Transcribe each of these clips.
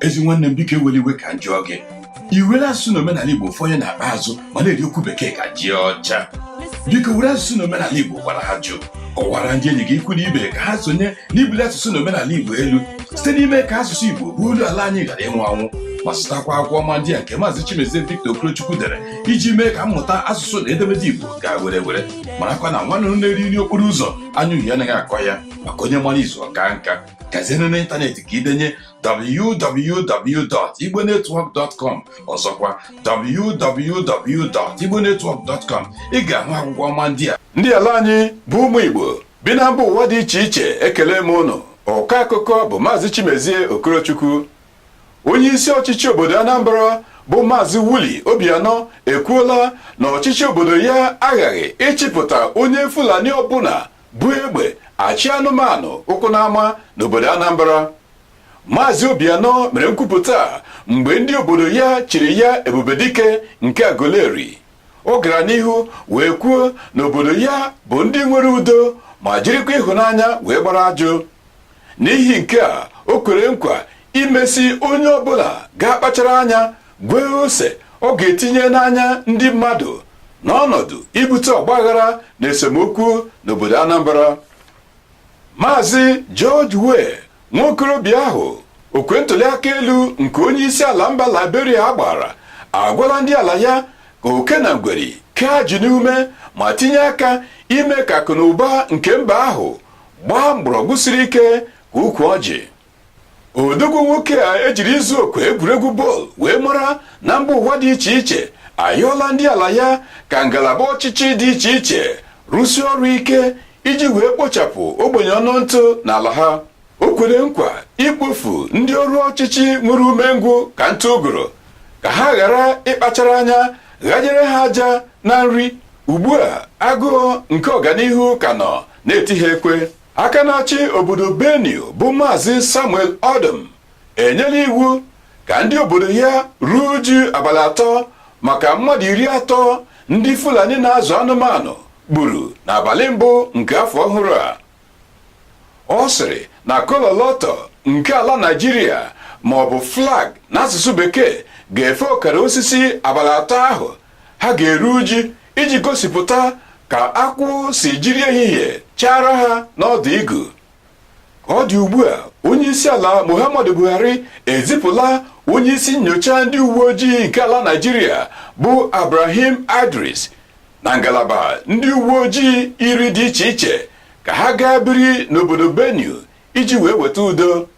ezi nwanne m biko ewela iwe ka m jụọ gị i were asụsụ na omenala igbo fọnye n'akpa azụ ma na-eri okwu bekee ka ji ọcha biko were asụsụ na omenala igbo gwara ajụ kọwara ndị enyi gị ikwu na ibe ka ha sonye n'ibuli asụsụ na omenala igbo elu site n'ime ka asụsụ igbo bụ olu ala anyị ghara ịnwụ anwụ ma zụtakwa akwụkwọ ọma ndị a nke maazị Chimezie Victor Okorochukwu dere iji mee ka mmụta asụsụ na edemede igbo gaa were were marakwa na nwanne na-eri nri okporo ụzọ anya uhie anaghị akọ ya maka onye mara izu ọka nka gazienụ n'ịntanetị ka i denye www.igbonetwork.com ọzọkwa www.igbonetwork.com ị ga-ahụ akwụkwọ ọma ndị a ndị ala anyị bụ ụmụ Igbo bi na mba ụwa dị iche iche ekele m ụnụ ọkọ akụkọ bụ maazị Chimezie Okorochukwu onye isi ọchịchị obodo Anambra bụ maazị Willie Obianọ ekwuola na ọchịchị obodo ya aghaghị ịchịpụta onye Fulani ọbụla bu egbe achị anụmanụ ụkwụ n'ama n'obodo Anambra Maazị Obianọ mere nkwupụta a mgbe ndị obodo ya chiri ya Ebubedike nke Aguleri ọ gara n'ihu wee kwuo na obodo ya bụ ndị nwere udo ma jirikwa ịhụnanya wee gbara ajụ n'ihi nke a o kwere nkwa imesi onye ọbụla ga-akpachara anya gwee ose ọ ga-etinye n'anya ndị mmadụ n'ọnọdụ ibute ọgbaghara na esemokwu n'obodo Anambra Maazị George Weah nwa okorobịa ahụ okwe ntụliaka elu nke onye isi ala mba Liberia gbara agwala ndị ala ya ka oke na ngweri kee ajị n'ume ma tinye aka ime ka akụ na ụba nke mba ahụ gbaa mgbọrọgwụ siri ike ka ukwu ọjị odogwu nwoke a ejiri izu okwe egwuregwu bọọlụ wee mara na mba ụwa dị iche iche ayọọla ndị ala ya ka ngalaba ọchịchị dị iche iche rụsie ọrụ ike iji wee kpochapụ ogbenye ọnụ ntụ n'ala ha o kwere nkwa ikpofu ndị ọrụ ọchịchị nwere umengwụ ka ntụ ụgụrụ ka ha ghara ịkpachara anya ghanyere ha aja na nri ugbu a agụụ nke ọganihu ka nọ na-eti ha ekwe aka na-achị obodo Benue bụ Maazị Samuel Ortom enyela iwu ka ndị obodo ya ruo uju abalị atọ maka mmadụ iri atọ ndị Fulani na-azụ anụmanụ gburu n'abalị mbụ nke afọ ọhụrụ a ọ sịrị na ọkọlọtọ nke ala Naịjirịa ma ọ bụ flag n'asụsụ bekee ga-efe ọkara osisi abalị atọ ahụ ha ga-eru uju iji gosipụta ka akwụ si jiri ehihie chaara ha n'ọdụ igu ka ọ dị ugbu a onye isi ala Muhammadu Buhari ezipụla onye isi nyocha ndị uwe ojii nke ala Naịjirịa bụ Ibrahim Idris na ngalaba ndị uwe ojii iri dị iche iche ka ha gaa biri n'obodo Benue iji wee weta udo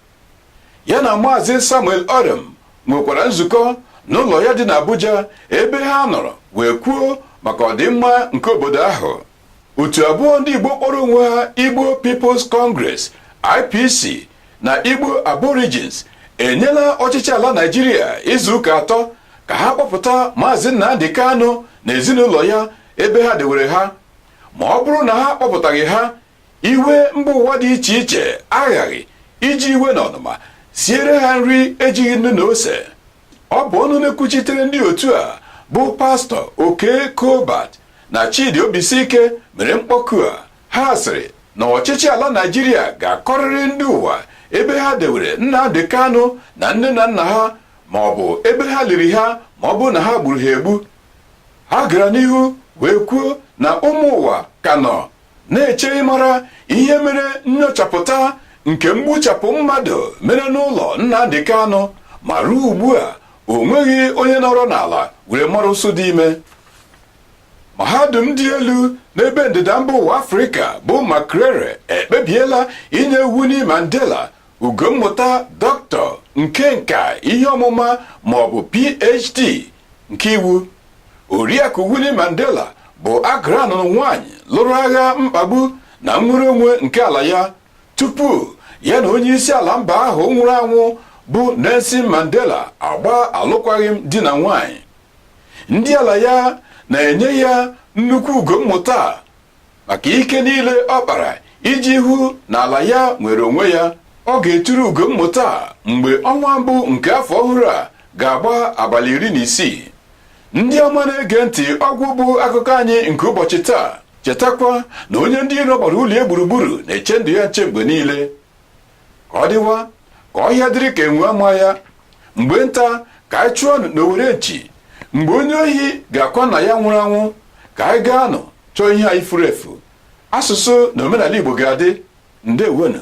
ya na maazị samuel ortom nwekwara nzukọ n'ụlọ ya dị n'abuja ebe ha nọrọ wee kwuo maka ọdịmma nke obodo ahụ otu abụọ ndị igbo kpọrọ onwe ha igbo peoples congress ipc na igbo aborigines enyela ọchịchị ala naịjirịa izu ụka atọ ka ha kpọpụta maazị nnamdị kanụ na ezinụlọ ya ebe ha dewere ha ma ọ bụrụ na ha kpọpụtaghị ha iwe mba ụwa dị iche iche aghaghị iji iwe na ọnụma siere ha nri ejighị nnu na ose ọ bụ ọnụ na-ekwuchitere ndị otu a bụ pastọ okey colbert na chidi obisike mere mkpọku a ha sịrị na ọchịchị ala naịjirịa ga-akọrịrị ndị ụwa ebe ha dewere nnamdị kanụ na nne na nna ha ma ọ bụ ebe ha liri ha ma ọ bụrụ na ha gburu ha egbu ha gara n'ihu wee kwuo na ụmụ ụwa ka nọ na-eche ịmara ihe mere nnyochapụta nke mgbuchapụ mmadụ mere n'ụlọ Nnamdi Kanu ma ruo ugbu a o nweghị onye nọrọ n'ala were mara ụsụ dị ime mahadum dị elu n'ebe ndịda mba ụwa afrịka bụ Makerere ekpebiela inye Winnie Mandela ugo mmụta dọkịta nke nka ihe ọmụma ma ọ bụ PhD nke iwu oriakụ Winnie Mandela bụ Agra nụrụ nwaanyị lụrụ agha mkpagbu na nnwere onwe nke ala ya tupu ya na onye isi ala mba ahụ nwụrụ anwụ bụ Nelson Mandela agbaa alụkwaghịm di na nwaanyị ndị ala ya na-enye ya nnukwu ugo mmụta maka ike niile ọ kpara iji hụ na ala ya nwere onwe ya ọ ga-eturu ugo mmụta mgbe ọnwa mbụ nke afọ ọhụrụ a ga-agba abalị iri na isii ndị ọma na-ege ntị ọgwụ bụ akụkọ anyị nke ụbọchị taa chetakwa na onye ndị iro gbara ụlọ gburugburu na-eche ndụ ya nche mgbe niile ka ọ dịwa ka ọhịa dịrị ka enwe ama ya mgbe nta ka anyị chụọnụ n'owere nchi mgbe onye ohi ga-akwa nna ya nwụrụ anwụ ka anyị gaanụ chọọ ihe anyị furu efu asụsụ na omenala igbo ga-adị ndewonụ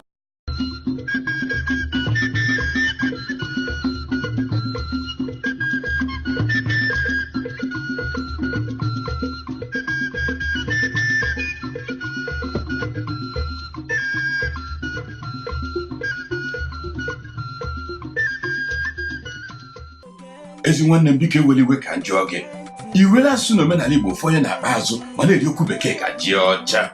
ezi nwanne m biko ewela iwe ka m jụọ gị i were asụsụ na omenala igbo fọnye n'akpa azụ ma na-eri okwu bekee ka ji ọcha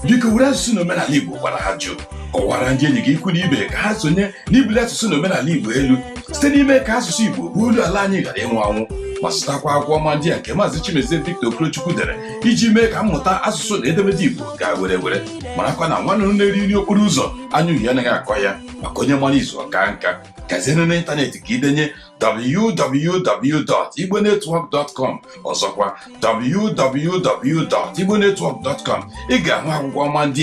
biko were asụsụ na omenala igbo gwara ajụ kọwara ndị enyi gị ikwu na ibe ka ha sonye n'ibuli asụsụ na omenala igbo elu site n'ime ka asụsụ igbo bụ olu ala anyị ghara ịnwụ anwụ ma zụtakwa akwụkwọ ọma ndị a nke maazị chimezie victor okorochukwu dere iji mee ka mmụta asụsụ na edemede Igbo gaa were were marakwa na nwa nnụnụ na-eri nri okporo ụzọ anya uhie anaghị akọ ya maka onye mara izu ọ kaa nka gazienụ n'ịntanetị ka i denye www.igbonetwork.com ọzọkwa www.igbonetwork.com ị ga-ahụ akwụkwọ ọma ndị a